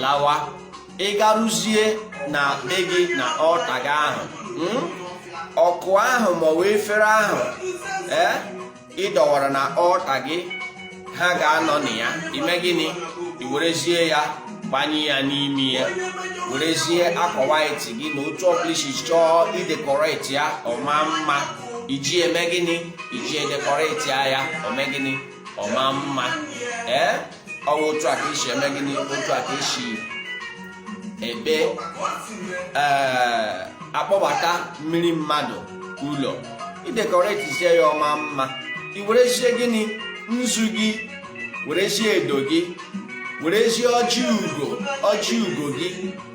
lawa ị garuzie na be gị na altar gị ahụ hmm? ọkụ ahụ maọbụ efere ahụ eh, ị dọwara na altar gị ha ga-anọ na ya ime gịnị i werezie ya gbanye ya n'ime ya werezie akwa white gị na otu ọbụla i si chọọ idekoreti ya ọ maa mma i ji eme gịnị i ji edekoreti ya ọ mee gịnị ọ maa mma ee eh? ọ wụ otu a ka e si eme gịnị otu a ka e si ekpe eh, akpọbata mmiri mmadụ ụlọ i dekoretisie ya ọ maa mma i werezie gịnị nzu gị werezie edo gị werezie ọjị ugo ọjị ugo gị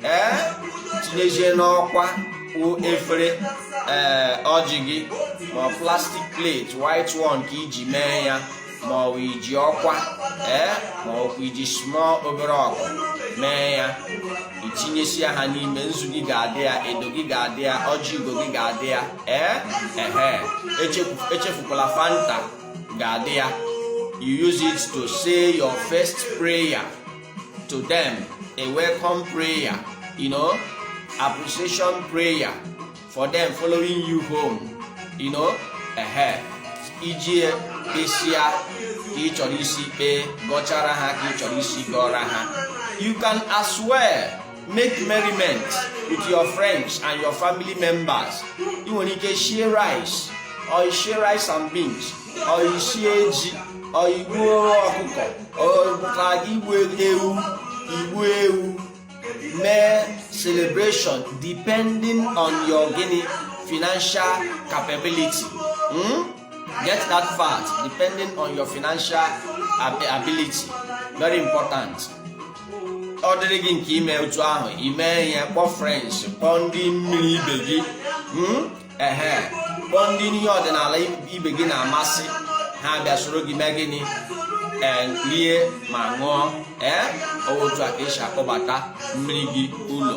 ee eh, tinyezie n'ọkwa efere ee eh, ọjị gị ma plastic plate white one ka i ji mee ya ma ọ bụ i ji ọkwa ee ma ọ bụ i ji small obere ọkụ mee ya i tinyesịa ha n'ime nzu gị ga-adị ya edo gị ga-adị ya ọjị ugo gị ga-adị ya ee ehe echefukwala fanta ga-adị ya you use it to say your first prayer to them a welcome prayer you know appreciation prayer for them following you home you know ehe i jie kpesịa ka ị chọrọ isi kpee gọchara ha ka ị chọrọ isi gọọra ha you can as well make merriment with your friends and your family members ị nwere ike shie rice or shie rice and beans or shie ji or i gbuo ọkụkọ or igbu ewu igbu ewu mee celebration depending on your gịnị financial capability hmm? get that fact depending on your financial ability very important ọ dịrị gị nke ime otu ahụ i mee ihe kpọọ friends kpọọ ndị mmiri ibe gị hmm? ehe kpọọ ndị ihe ọdịnala ibe gị na-amasị ha bịa soro gị mee gịnị ee rie ma ṅụọ ee ọ wụ otu a ka e si akpọbata mmiri gị ụlọ